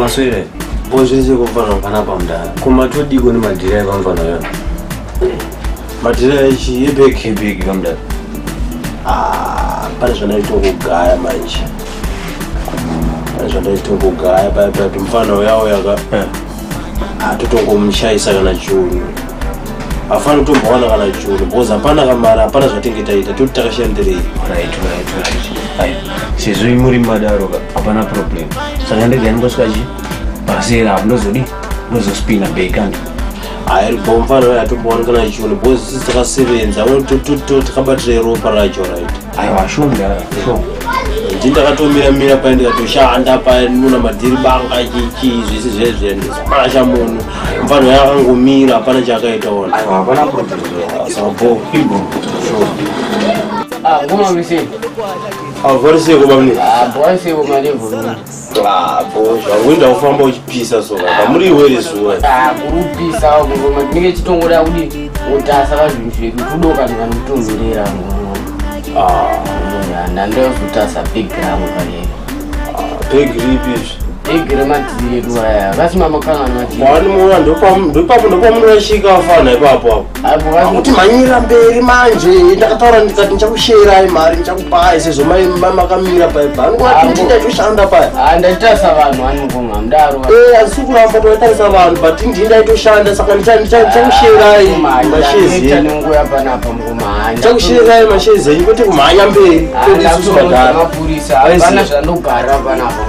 Maswere, bozvese kufana kana pamdara. Kuma tudi kuni madira ekamfana yo. Madira echi yebeki beki kamdara. Ah, pane zvanaito kugaya manje. Pane zvanaito kugaya pa pa mfana uya uya ka. Eh. Atotongomushaisa kana chunyu. hafani kutombowana kana churu because hapana kamari hapana zvatinge taita toti takashandirei sezvo imuri madaro hapana problem saka ndege aningosvika chi pasera hapo ndozodii ndozospina bekandi hayi bomfana atombowanikana churu because sisi takasevenza takabatira ropa racho right aiwa sure mudhara sure ndini ndakatomira mira paye ndikatoshanda paye ndinona madhiri banga chichii zvese zvezve ndisipasha munhu mfano yakangomira hapana chaakaita ona aiwa hapana problem sabo ibo sure Ah, ngoma misi. Ah, vori seko bamni. Ah, boy seko mali vuri. Ah, zvakuenda kufamba uchipisa so kamuri iwere zuwa ah, kurupisa kungoma tinenge titongoda kuti utasa kazvinhu zvedu kudoka ndikanotonzerera ndandaozotasa ah. big rangu kale big ripi big rematiri edu aya kasi mamakangani mati kwani muona ndopamundopamunorashika afana ipapo apo akuti manyira mberi manje ndakataura ndikati ndichakusherai mari ndichakupai sezvo makamira paye paangoati ndaitoshanda paye ah, ndaitarisa vanhu anivuma mdaro eh, asi kuramba toitarisa vanhu but ndii ndaitoshanda saka ndichakusherai mashezenichakusherai mashezi enyu kwete kumhanya mberi ah,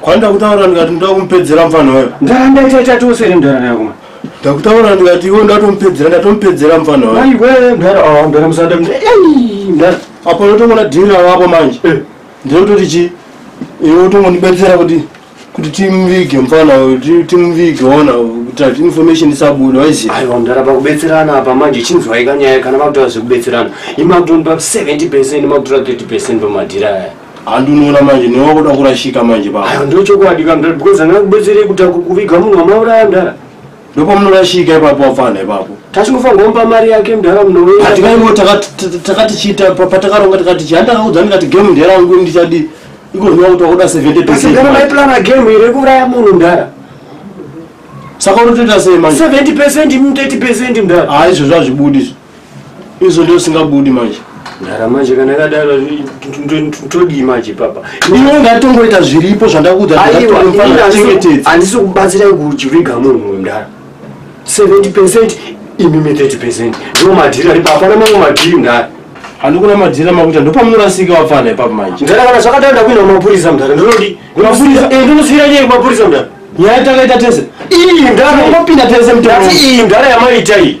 Kwanda kutaura ndikati ndoda kumupedzera mfana wayo. Ndaramba ita ita tose iri mdara nayo kuma. Ndakutaura ndikati iwe ndatomupedzera ndatomupedzera mfana wayo. Ai we mdara ah mdara musada mdara. Ei mdara. Apa ndotomona dhira wapo manje. Eh. Ndinototi chi iwe utongonibetsera kuti kuti timuvige mfana uyu ti- timuvige ona kuti ati information isabuda waiziva. Aiwa mdara pakubetserana apa manje chinzwai kanyaya kana makutaura zvekubetserana. Imakutondipa 70% makutora 30% pamadhira aya. handi unoona manje newe wakuda kurashika manje baba ayo ndo chokwadi ka mdara because anga kubetserei kuti akukuviga munhu wamauraya mdara ndopamunorashika ipapo wapfana ipapo tachingofanirwa kumupa mari yake mdara munoweatikaimo takati chiita patakaronga tikati chii handakaudza ndikati game nderangu ndichadii iko zvinova kuti wakuda seventy percentgara maiplana game iri kuuraya munhu mdara saka unotoita sei manje seventy percent imutety percent mdara haizvo zvazvibudi izvo izvo ndio singabudi manje ndara manje kana yakadaro todii manje papa iwe ungatongoita zviripo zvandakuudzandisi kubatsirai kuchiviga munhu mdara 70 percent imimi 30 percent ndo madhiri aripo hapana mamwe madhiri mdara handikuna madhira makuita ndopamunorasika wapfana ipapa manje mdara kana zvakadaro ndakuenda kumapurisa mdara ndinodi kumapurisa eh, ndinosiira nyaya kumapurisa mdara nyaya takaita tese iyi mdara ingopinda tese mdara iyi mdara yamaita iyi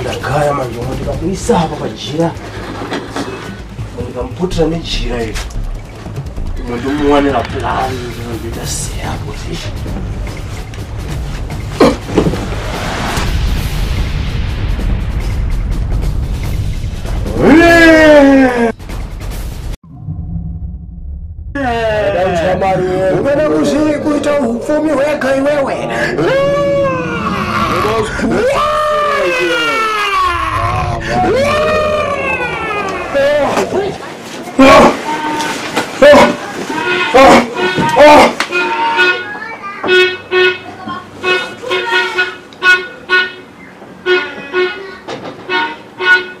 ndagaya manje umo ndikakuisa apa pajira ndikamuputira nejira iri umo ndomuwanira plani ndinoita seya position Ungana kuzviri kuita hupfumi hwega iwewe.